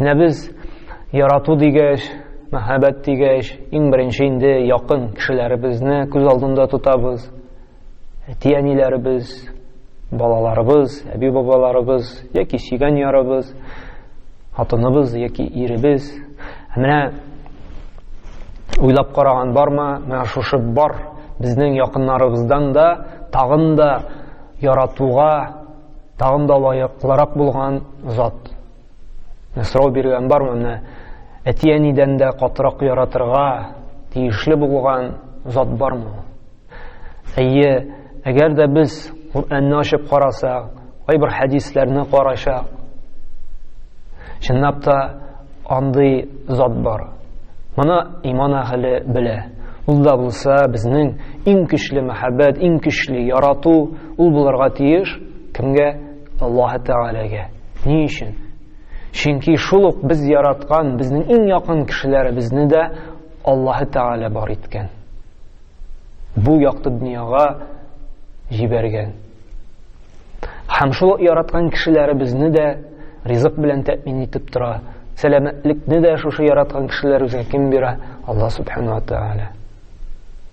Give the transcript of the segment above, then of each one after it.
Менә без ярату дигәч, мәхәббәт дигәч, иң беренче инде якын кешеләребезне күз алдында тотабыз. Әти-әниләребез, балаларыбыз, әби-бабаларыбыз яки сөйгән ярыбыз, хатыныбыз яки иребез. Ә менә уйлап караган бармы, менә шушы бар безнең якыннарыбыздан да тагын да яратуга Тагын да лаеклырак булган зат. Менә сорау биргән бармы? Менә әти-әнидән дә катырак яратырга тиешле булган зат бармы? Әйе, әгәр дә без Коръәнне ачып карасак, кайбер хәдисләрне карачак, чынлап та андый зат бар. Моны иман әһеле белә. Ул да булса безнең иң көчле мәхәббәт, иң көчле ярату Ул булырга тиеш, кемгә? Аллаһы Тәгаләгә. Ни өчен? Чөнки шул ук без яраткан, безнең иң якын кешеләребезне дә Аллаһы Тәгалә бар иткән. Бу якты дөньяга җибәргән. Һәм шул яраткан кешеләребезне дә ризык белән тәэмин итеп тора. Сәламәтлекне дә шушы яраткан кешеләребезгә кем бирә? Алла Субхану ва Тәгалә.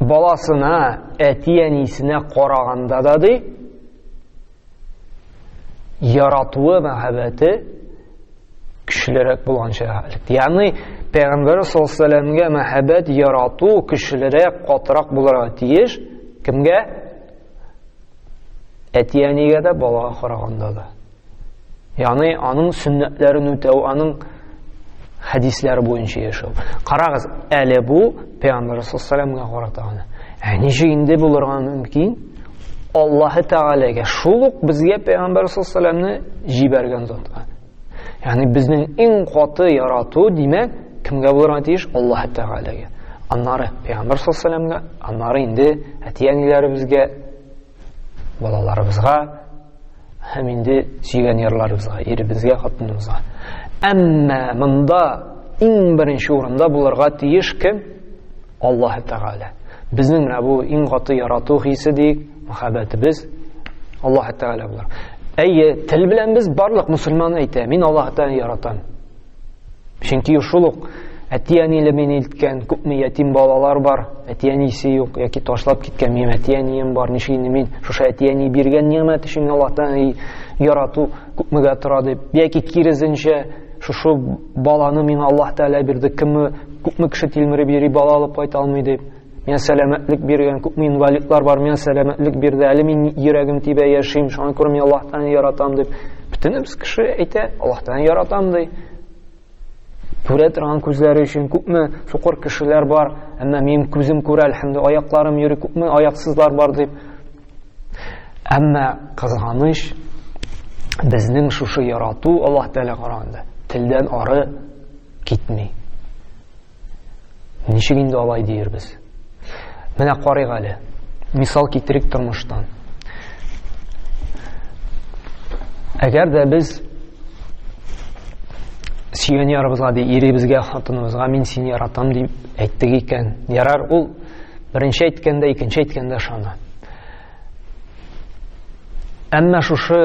баласына, әти-әнисенә караганда да ди, яратуы, мәхәббәте көчлерәк булганча хәлек. Ягъни Пәйгамбәр саллаллаху алейһи мәхәббәт, ярату көчлерәк, катырак булырга тиеш. Кемгә? Әти-әнигә дә, балага караганда да. Яны аның сөннәтләрен үтәү, аның хәдисләре буенча яшәү. Карагыз, әле бу Пәйгамбәр саллаллаһу карата гына. Ә ничә инде булырга мөмкин? Аллаһ Тәгаләгә шул ук безгә Пәйгамбәр саллаллаһуны җибәргән затка. Ягъни безнең иң каты ярату, димәк, кемгә булырга тиеш? Аллаһ Тәгаләгә. Аннары Пәйгамбәр саллаллаһуга, аннары инде әти-әниләребезгә, балаларыбызга, Һәм инде сөйгән ярларыбызга, иребезгә, хатыныбызга. Әмма монда иң беренче урында булырга тиеш кем? Аллаһ Тәгалә. Безнең менә бу иң каты ярату хисе ди, мәхәббәтебез Аллаһ Тәгалә булыр. Әйе, тел белән без барлык мусульман әйтә, мин Аллаһ Тәгаләне яратам. Чөнки шул ук әти-әниле мине илткән, күпме ятим балалар бар, әти-әнисе юк яки ташлап киткән, минем әти-әнием бар, ничек инде мин шушы әти-әни биргән нигъмәт өчен Аллаһтан ярату күпмегә тора дип, яки киресенчә, шушы баланы миңа Аллаһ Тәгалә бирде, кемме күпме кеше тилмереп йөри, бала алып кайта алмый дип. Миңа сәламәтлек биргән, күпме инвалидлар бар, миңа сәламәтлек бирде. Әле мин йөрәгем тибә яшим, шуңа күрә мин Аллаһтан яратам дип. Бөтенебез кеше әйтә, Аллаһтан яратам ди. Күрә торган күзләре өчен күпме сукыр кешеләр бар, әмма минем күзем күрә, әлхәмдү, аякларым йөри, күпме аяксызлар бар дип. Әмма кызганыч, безнең шушы ярату Аллаһ Тәгалә караганда телдән ары китми. Ничек инде алай диербез? Менә карыйк әле. Мисал китерик тормыштан. Әгәр дә без сөйгән ярыбызга ди иребезгә хатыныбызга мин сине яратам дип әйттек икән ярар ул беренче әйткәндә икенче әйткәндә ышана Әмма шушы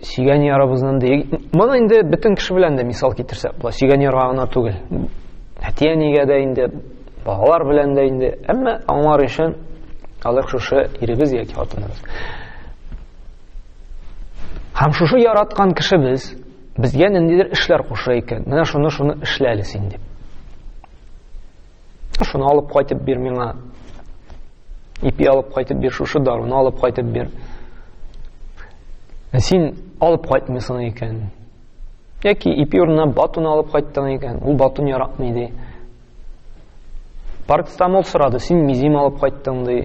сөйгән ярыбызның дә моны инде бөтен кеше белән дә мисал китерсәк була. Сөйгән ярга гына түгел. Әти-әнигә дә инде, балалар белән дә инде. Әмма аңлар өчен алык шушы иребез яки хатыныбыз. Һәм шушы яраткан кешебез безгә ниндидер эшләр куша икән. Менә шуны шуны эшләле син дип. Шуны алып кайтып бир миңа. Ипи алып кайтып бир, шушы даруны алып кайтып бир. Ә син алып кайтмыйсың икән. Яки ипи урынына батуны алып кайттың икән, ул батун яратмый ди. Парцетамол сорады, син мизим алып кайттың ди.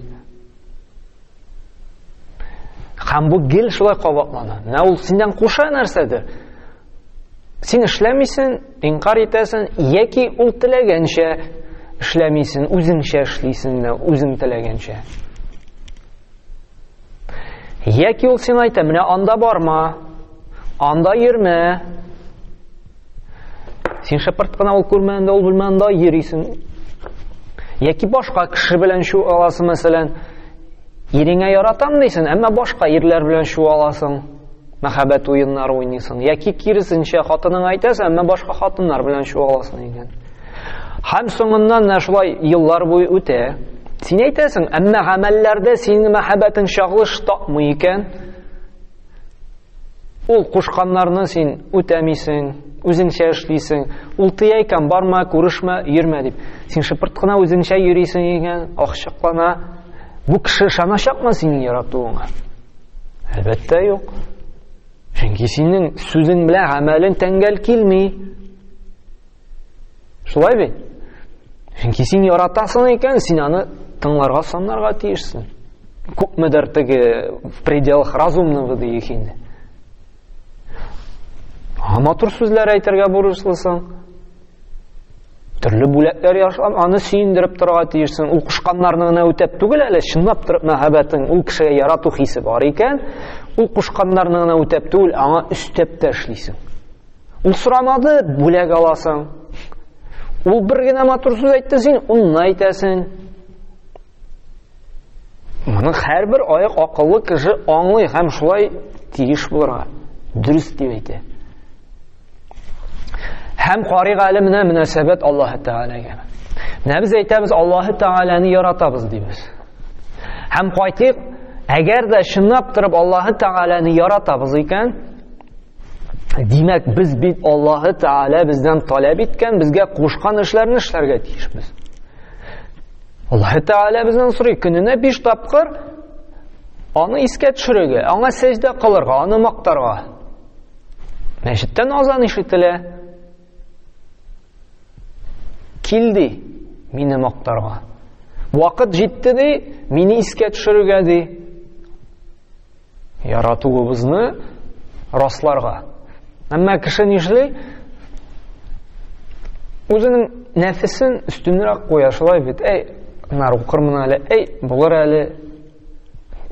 Һәм бу гел шулай кабатлана. Менә ул синнән куша нәрсәдер. Син эшләмисен, инкар итәсен, яки ул теләгәнчә эшләмисен, үзеңчә эшлисен дә, үзең теләгәнчә. Яки ул син әйтә, менә анда барма, анда йөрмә. Син шәпырт кына ул күрмәгәндә, ул белмәгәндә йөрисен. Яки башка кеше белән шу аласы мәсәлән, Иреңә яратам дисен, әмма башка ирләр белән шу аласың. мәхәббәт уеннары уйныйсың, яки киресенчә хатыныңа әйтәсең, әмма башка хатыннар белән чуаласың икән. Һәм соңыннан да шулай еллар буе үтә. Син әйтәсең, әмма гамәлләрдә синең мәхәббәтең чагылыш тапмый икән. Ул кушканнарны син үтәмисең, үзеңчә эшлисең. Ул тыя икән, барма, күрешмә, йөрмә дип. Син шыпырт кына үзеңчә йөрисең икән, охчыклана. Бу кеше ышаначакмы синең яратуыңа? Әлбәттә юк. Чөнки синең сүзең белән гамәлең тәңгәл килми. Шулай бит? Чөнки син яратасың икән, син аны тыңларга санарга тиешсең. Күпмедер теге в пределах разумного диик инде. Матур сүзләр әйтергә бурычлысың. Төрле бүләкләр ясап, аны сөендереп торырга тиешсең. Ул кушканнарны гына үтәп түгел әле, чынлап торып мәхәббәтең, ул кешегә ярату хисе бар икән, ул кушканнарны гына үтәп түгел, аңа өстәп тә эшлисең. Ул сорамады, бүләк аласың. Ул бер генә матур сүз әйтте, син онны әйтәсең. Моны һәрбер аяк акыллы кеше аңлый һәм шулай тиеш булырга. Дөрес дип әйтә. Һәм карый галименә мөнәсәбәт Аллаһ Тәгаләгә. Менә без әйтәбез, Аллаһ Тәгаләне яратабыз дибез. Һәм кайтыйк, әгәр дә чынлап торып Аллаһ Тәгаләне яратабыз икән, Димәк, без бит Аллаһы Тәгалә бездән таләп иткән, безгә кушкан эшләрне эшләргә тиешбез. Аллаһы Тәгалә бездән сорый, көненә 5 тапкыр аны искә төшерергә, аңа сәҗдә кылырга, аны мактарга. Мәчеттән азан ишетелә. Килди, мине мактарга. Вакыт җитте ди, мине искә төшерергә ди. Яратуыбызны расларга. Әмма кеше нишли? Үзенең нәфесен өстенрәк куя, шулай бит. Әй, нар укырмын әле, әй, булыр әле.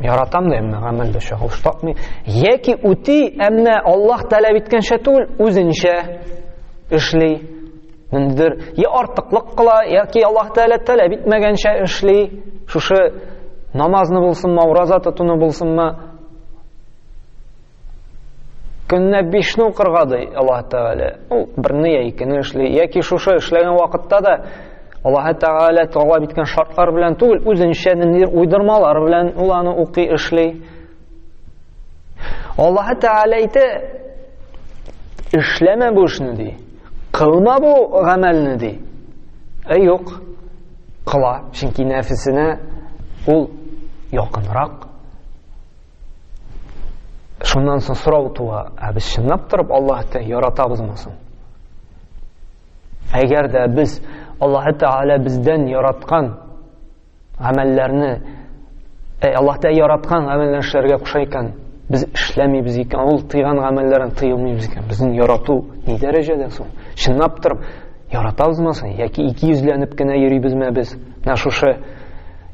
Яратам да әмма гамәл дә чагылыш тапмый. Яки үти, әмма Аллаһ таләп иткәнчә түгел, үзенчә эшли. Ниндидер я артыклык кыла, яки Аллаһ Тәгалә таләп итмәгәнчә эшли, шушы намазны булсынмы, аураза тотуны булсынмы, көнне бишне укырга ди Аллаһ Тәгалә. Ул берне я икене эшли, яки шушы эшләгән вакытта да Аллаһ Тәгалә таләп иткән шартлар белән түгел, үзенчә ниндидер уйдырмалар белән ул аны укый, эшли. Аллаһ Тәгалә әйтә, эшләмә бу эшне ди. Кылма бу гамәлне, ди. Ә юк, кыла, чөнки нәфесенә ул якынрак. Шуннан соң сорау туа, ә без чынлап торып Аллаһты яратабызмы соң? Әгәр дә без Аллаһ Тәгалә бездән яраткан Гамәлләрне Әй Аллаһ Тәгалә яраткан гамәлләрне эшләргә куша икән, без эшләмибез икән, ул тыйган гамәлләрен тыймыйбыз икән. Безнең ярату ни дәрәҗәдә соң? Чынлап тор, яратабызмы соң? Яки ике йөзләнеп кенә йөрибезме без? Менә шушы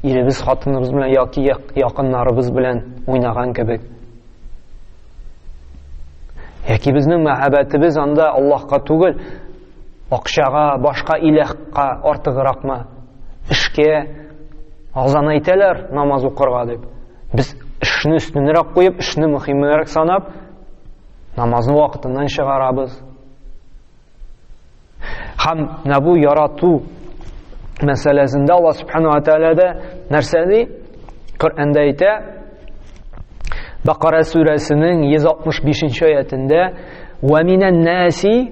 иребез, хатыныбыз белән яки якыннарыбыз белән уйнаган кебек. Яки безнең мәхәббәтебез анда Аллаһка түгел, Акчага, башка иләхка артыгракмы? Эшкә, азан әйтәләр, намаз укырга дип. Без эшне өстенрәк куеп, эшне мөхимрәк санап, намазны вакытыннан чыгарабыз. Хәм менә бу ярату мәсьәләсендә Алла субхана ва тәгалә дә нәрсә ди? Коръәндә әйтә, Бакара сүрәсенең 165 нче аятендә: "Ва минән наси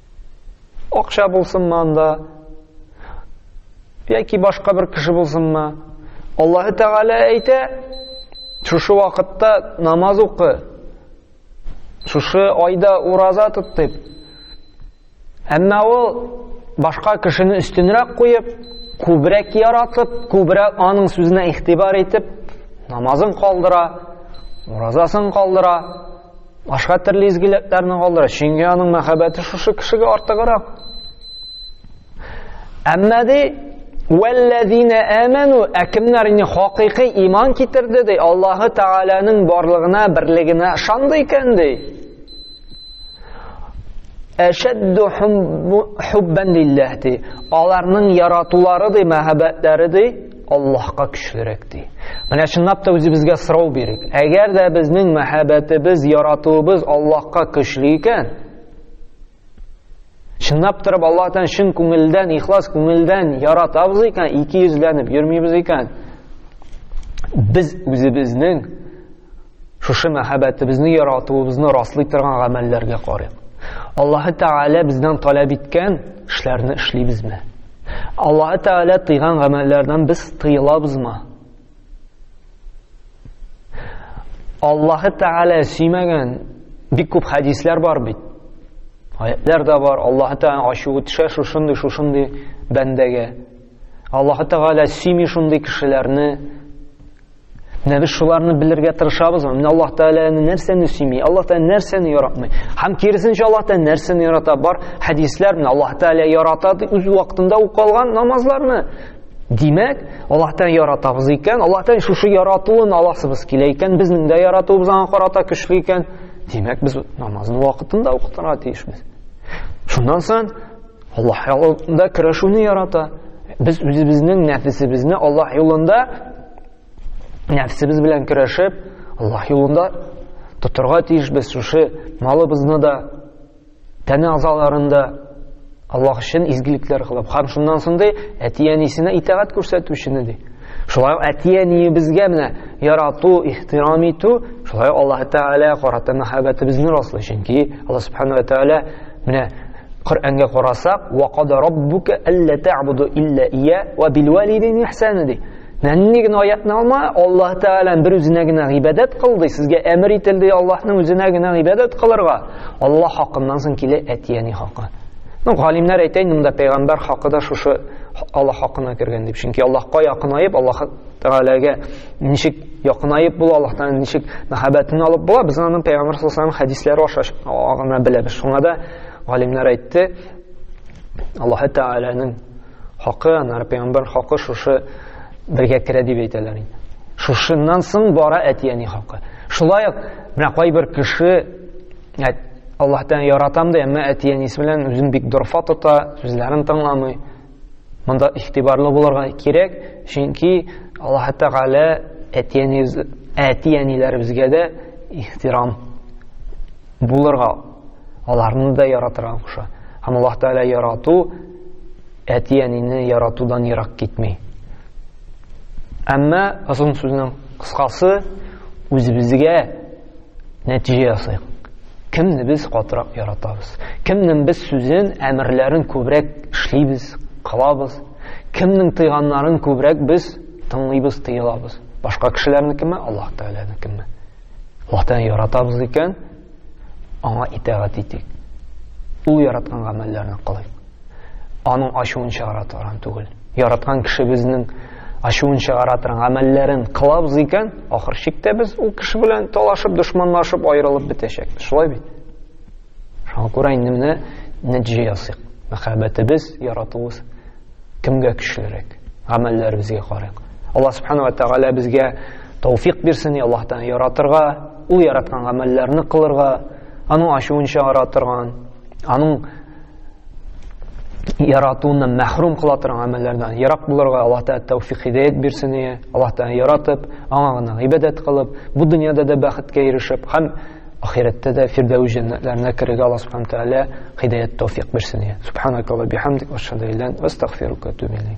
Акча булсынмы анда, яки башка бер кеше булсынмы, Аллаһы Тәгалә әйтә, шушы вакытта намаз укы, шушы айда ураза тот дип. Әмма ул башка кешене өстенрәк куеп, күбрәк яратып, күбрәк аның сүзенә ихтибар итеп, намазын калдыра, уразасын калдыра, Башка төрле изгелекләрне калдыра, чөнки аның мәхәббәте шушы кешегә артыграк. Әмма ди, Вәлләзина әмәну, ә кемнәр инде хакыйкый иман китерде ди, Аллаһы Тәгаләнең барлыгына, берлегенә ышанды икән ди. Әшәдду хуббан лилләһ ди. Аларның яратулары ди, мәхәббәтләре ди, Аллаһка көчлерәк, ди. Менә чынлап та үзебезгә сорау бирик. Әгәр дә безнең мәхәббәтебез, яратуыбыз Аллаһка көчле икән, чынлап торып Аллаһтан чын күңелдән, ихлас күңелдән яратабыз икән, ике йөзләнеп йөрмибез икән, без үзебезнең Шушы мәхәббәтебезне, яратуыбызны раслый торган гамәлләргә карыйк. Аллаһы Тәгалә бездән таләп иткән эшләрне эшлибезме? Аллаһы Тәгалә тыйган гамәлләрдән без тыелабызмы? Аллаһы Тәгалә сөймәгән бик күп хәдисләр бар бит. Аятлар да бар. Аллаһы Тәгалә ачуы төшә шушындый, шушындый бәндәгә. Аллаһы Тәгалә сөйми шундый кешеләрне. Менә без шуларны белергә тырышабыз. Менә Аллаһ Тәгаләне нәрсәне сөйми? Аллаһ Тәгалә нәрсәне яратмый? Һәм киресенчә Аллаһ Тәгалә нәрсәне ярата? Бар хәдисләр менә Аллаһ Тәгалә ярата дип үз вакытында укылган намазларны. Димәк, Аллаһ Тәгалә яратабыз икән, Аллаһ Тәгалә шушы яратуын аласыбыз килә икән, безнең дә яратуыбыз аңа карата көчле икән. Димәк, без намазны вакытында укытырга тиешбез. Шуннан соң Аллаһ юлында көрәшүне ярата. Без үзебезнең нәфесебезне Аллаһ юлында нәфсебез белән көрәшеп, Аллаһ юлында тотырга тиеш без шушы малыбызны да, тәне азаларын да Аллаһ өчен изгелекләр кылып, һәм шуннан соң ди, әти-әнисенә итагать күрсәтүчене ди. Шулай ук әти-әниебезгә менә ярату, ихтирам итү, шулай ук Аллаһ Тәгалә карата мәхәббәтебезне раслый. Чөнки Аллаһ Субхану ва Тәгалә менә Коръәнгә карасак, "Ва када раббука алла та'буду илля ия ва бил валидин ихсана" ди. Нәнни генә аятны алма, Аллаһ Тәгалә бер үзенә генә гыйбадәт кыл ди, сезгә әмер ителде Аллаһның үзенә генә гыйбадәт кылырга. Аллаһ хакыннан соң килә әти-әни хакы. Ну, галимнәр әйтә инде монда пәйгамбәр хакы да шушы Аллаһ хакына кергән дип. Чөнки Аллаһка якынаеп, Аллаһ Тәгаләгә ничек якынаеп була, Аллаһтан ничек мәхәббәтен алып була, без аны пәйгамбер саллаллаһу хәдисләре аша гына беләбез. Шуңа да галимнәр әйтте, Аллаһ Тәгаләнең хакы, аннары пәйгамбер хакы шушы бергә керә дип әйтәләр инде. Шушыннан соң бара әтияни хакы. Шулай ук менә кайбер кеше Әт, Аллаһтан яратам да, әмма әти-әнисе белән үзен бик дорфа тота, сүзләрен тыңламый. Монда игътибарлы булырга кирәк, чөнки Аллаһ Тәгалә әти-әниләребезгә дә ихтирам булырга, аларны да яратырга куша. Һәм Аллаһ Тәгалә ярату әти-әнине яратудан ерак китми. Әмма озын сүзнең кыскасы үзебезгә нәтиҗә ясыйк. Кемне без катырак яратабыз? Кемнең без сүзен, әмерләрен күбрәк эшлибез, кылабыз? Кемнең тыйганнарын күбрәк без тыңлыйбыз, тыелабыз? Башка кешеләрнекеме, Аллаһ Тәгаләнекеме? Аллаһ Тәгалә яратабыз икән, аңа итагать итик. Ул яраткан гамәлләрне кылыйк. аның ачуын чыгара торган түгел. Яраткан кешебезнең ачуын чыгара торган гамәлләрен кылабыз икән, ахыр чиктә без ул кеше белән талашып, дошманлашып, аерылып бетәчәкбез. Шулай бит? Шуңа күрә инде менә нәтиҗә ясыйк. Мәхәббәтебез, яратуыбыз кемгә көчлерәк? Гамәлләребезгә карыйк. Алла субхана ва тәгалә безгә тауфик бирсен, и Аллаһтан яратырга, ул яраткан гамәлләрне кылырга, аның ачуын чыгара торган, аның яратуыннан мәхрүм кыла торган гамәлләрдән ерак булырга Аллаһ Тәгалә тәүфик хидәят бирсен ие. Аллаһ Тәгалә яратып, аңа гына гыйбадәт кылып, бу дөньяда да бәхеткә ирешеп һәм ахирәттә дә фирдәүс җәннәтләренә керергә Аллаһ Субхану Тәгалә хидәят тәүфик бирсен ие. Субханакалла бихамдик ва шһаду иллан ва астагфирука ва